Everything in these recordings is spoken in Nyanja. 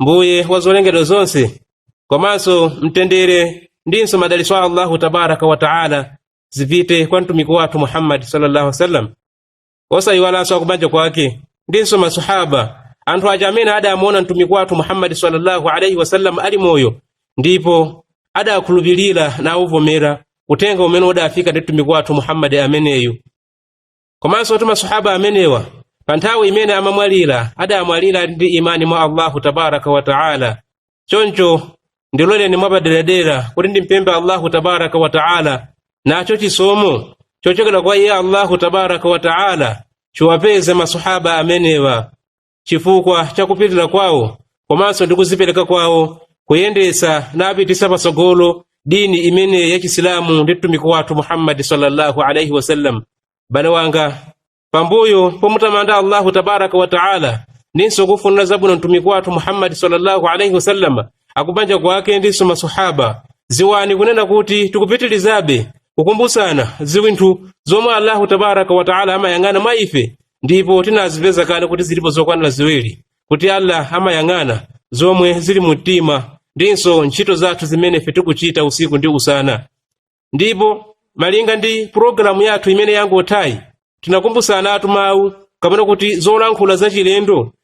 mbuye wa zolengedwa zonse komanso mtendere ndinso madalitso a allahu tabaraka wa taala zipite kwa mtumiki wathu muhammadi sallallahu alaihi wasallam osayiwalanso akubanja kwake ndinso masahaba anthu aja amene adamuona mtumiki wathu muhammadi sallallahu alaihi wasallam ali moyo ndipo adakhulupirira nauvomera uthenga umene udafika ndi mtumiki wathu muhammadi ameneyu komanso kuti masahaba amenewa pa nthawi imene amamwalira adamwalira ndi imani mwa allahu tabaraka wa taala choncho ndiloleni mwapaderadera kuti ndimpembe allahu tabaraka wa taala nacho chisomo chochokera kwa iye allahu tabaraka wa taala chiwapeze masahaba amenewa chifukwa cha kupirira kwawo komanso ndi kuzipereka kwawo kuyendetsa napitisa patsogolo dini imene ya chisilamu ndi mtumiki wathu muhammadi sallallahu alaihi wasallam bale wanga pambuyo pomutamanda allahu tabaraka wa taala ndinso kufunira zabwino mtumiki wathu muhammadi sallallahu alaihi wasallam akubanja kwake ndinso masahaba ziwani kunena kuti tikupitirizabe kukumbutsana ziwinthu zomwe allahu tabaraka wa taala amayang'ana mwa ife ndipo tinazipeza kale kuti zilipo zokwanira ziwiri kuti allah amayang'ana zomwe zili mu mtima ndinso ntchito zathu zimene ife tikuchita usiku ndi usana ndipo malinga ndi pulogalamu yathu imene yangothayi tinakumbusanatu mawu kapena kuti zolankhula zachilendo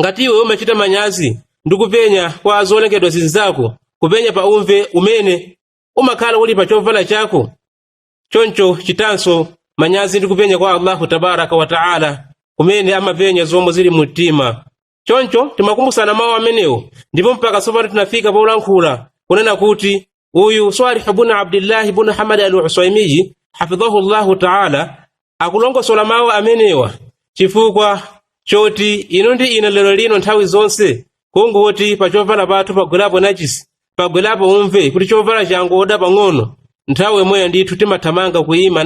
ngati iwe umachita manyazi ndi kupenya kwa zolengedwa zinzako kupenya pa umve umene umakhala uli pa chovala chako choncho chitanso manyazi ndi kupenya kwa allahu tabaraka wataala kumene amapenya zomwe zili mu mtima choncho timakumbusana mawu amenewo ndipo mpaka tsopano tinafika polankhula kunena kuti uyu swalih bunu abdillahi bunu hamad al usaimiyi hafidhahu llahu taala akulongosola mawu amenewa chifukwa choti inu ndi ine lero lino nthawi zonse kungoti pa chovala pathu pagwerapo najisi pagwerapo umve kuti chovala changoda pang'ono nthawi yomweyo ndithu timathamanga kuyima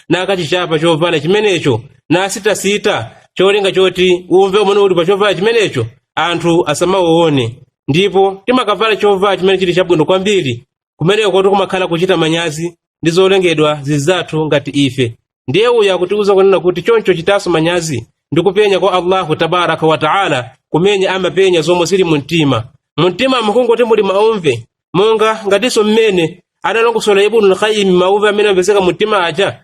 nakachichapa chovala chimenecho nasitasita cholinga choti umve umene uli pa chovala chimenecho anthu asamauone ndipo timakavala chovala chimene chili chabwino kwambiri kumeneko kuti kumakhala kuchita manyazi ndi zolengedwa zizathu ngati ife ndiye uyu akutiuza kunena kuti choncho chitanso manyazi ndi kupenya kwa allahu tabaraka wa taala kumene amapenya zomwe zili mu mtima mu mtima mukungoti muli maumve monga ngatinso mmene analongosola ibnu lkayimi mauve amene amapezeka mu mtima aja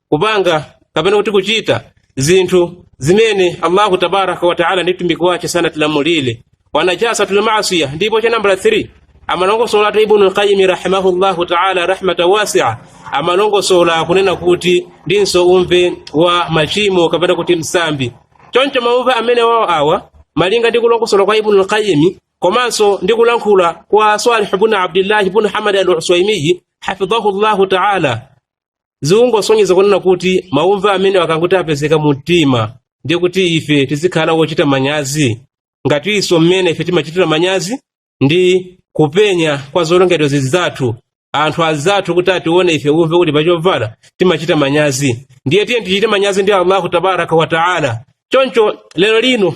kupanga kapena kuti kuchita zinthu zimene allahu tabaraka wataala ndi mtumiki wace sanatilamulire wanajasatu maasiya ndipo cha nambala 3 amalongosola ibnu lqayimi rahimahullahu taala rahmata wasia amalongosola kunena kuti ndinso umve wa machimo kapena kuti msambi choncho maumve amene wawo awa malinga ndi kulongosola kwa ibnu lqayimi komanso ndi kulankhula kwa salih bnu abdillahi bnu hamad al uswaimiyi hafidhahu llahu taala zikungosonyeza kunena kuti maumve amene akangoti wapezeka mu mtima ndiye kuti ife tizikhala wochita manyazi ngatinso mmene ife timachitira manyazi ndi kupenya kwa zolengedwa zinzathu anthu anzathu kuti atione ife umve uli pachovala timachita manyazi ndiye tiyeni tichite manyazi ndi allahu tabaraka wataala choncho lero lino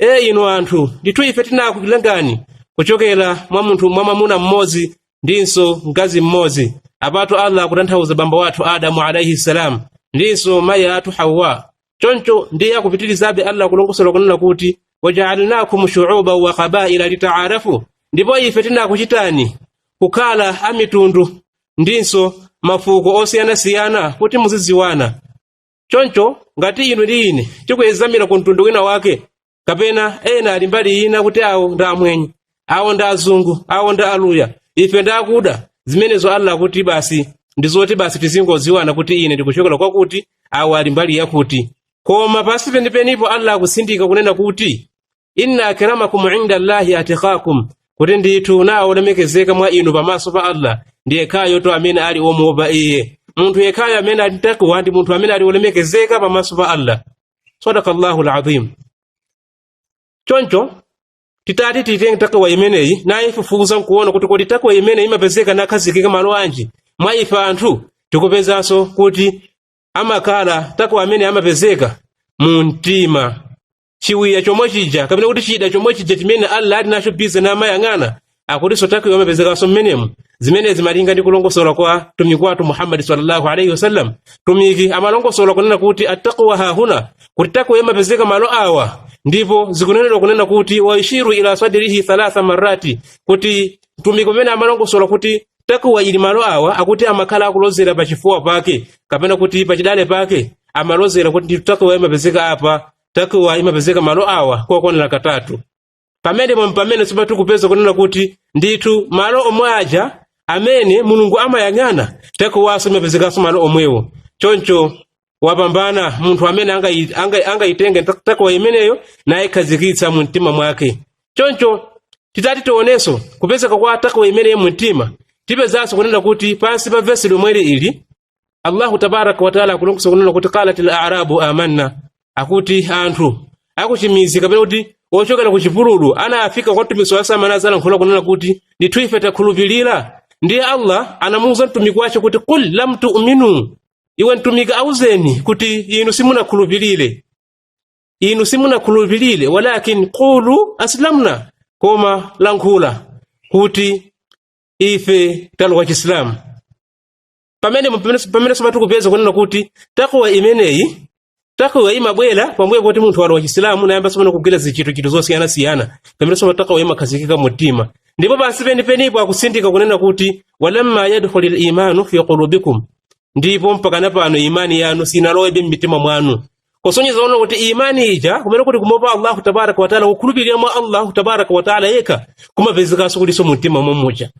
ee inu anthu ndithu ife tinakulengani kuchokera mwa munthu mwa mwamuna mmodzi ndinso mkazi mmodzi apatu allah akutanthauza bambo wathu adamu alaihi salam ndinso mayi athu hawa choncho ndiye akupitirizabe allah kulongosola kunena kuti wajaalnakum shuuba wa kabaila litaarafu ndipo ife tinakuchitani kukhala amitundu ndinso mafuko osiyanasiyana kuti muzidziwana choncho ngati inu ndi ine tikuyezamira ku mtundu wina wake kapena ena ali mbali ina kuti awo ndi amwenye awo ndi azungu awo ndi aluya ife ndi akuda zimenezo allah kuti basi ndi zoti basi tizingodziwana kuti ine ndikuchokera kwakuti awo ali mbali yakuti koma pansi penipenipo allah akusindika kunena kuti inna akramakum inda llahi atqakum kuti ndithu nayo olemekezeka mwa inu pamaso pa allah ndi yekhayo amene ali omuopa iye munthu yekhayo amene ali takwa ndi munthu amene ali olemekezeka pamaso pa allah sadaka llahu lazim choncho titati titenge takwa imeneyi naifufuza nkuona kuti kodi takwa imeneyi imapezeka nakhazikika malo anji mwa ife anthu tikupezanso kuti amakhala takwa amene amapezeka mu mtima chiwiya chomwe chija kapena kuti chida chomwe chija chimene allah ali nacho bize namayang'ana akutinso takwayo amapezekanso mmenemo zimenezi malinga ndi kulongosola kwa mtumiki wathu muhammadi sallallahu alaihi wasallam mtumiki amalongosola kunena kuti attaqwa hahuna kuti takwayo imapezeka malo awa ndipo zikunenedwa kunena kuti wayushiru ila sadrihi thalatha marati kuti mtumiki mmene amalongosola kuti takuwa ili malo awa akuti amakhala akulozera pa chifuwa pake kapena kuti pa chidali pake amalozera kuti ndithu takuwa imapezeka apa takuwa imapezeka malo awa kokwanira katatu pamenepo mpamenenso tikupeza kunena kuti ndithu malo omwe aja amene mulungu amayang'ana takuwanso imapezekanso malo omwewo choncho wapambana munthu amene angayi- angayi- angayitenge takwa imeneyo nayikhazikitsa mu mtima mwake choncho titati tionenso kupezeka kwa takwa imeneyo mu mtima tipezanso kunena kuti pansi pa vesi lomweliri allahu tabaraka wataala akulongosola kunena kuti qalat l arabu amanna akuti anthu akuchimizi kapena kuti ochokera ku chipululu anafika kwa mtumiki nazalankhula kunena kuti ndithu ife takhulupirira ndiye allah anamuwuza mtumiki wace kuti qul lam tuminu iwe mtumiki auzeni kuti inu simunakhulupirire inu simunakhulupirire walakin qulu aslamna koma lankhula kuti ife talowa chisilamu pamene pamene pamene tsopano tikupeza kunena kuti takwa imeneyi takawa imabwera pambuyo poti munthu walowa chisilamu nayamba tsopano kugwira zichitochito zosiyanasiyana pamene tsopano takawa imakhazikika mu mtima ndipo pansi penipenipo akusindika kunena kuti walamma yadkhulil imanu fi qulubikum ndipo mpakana pano imani yanu sinalowebe m'mitima mwanu kusonyeza ono kuti imani ija kumene kuti kumuopa allahu tabaraka wataala kukhulupirira mwa allahu tabaraka wataala yekha kumapezekanso kulinso mu mtima mommuja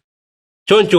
choncho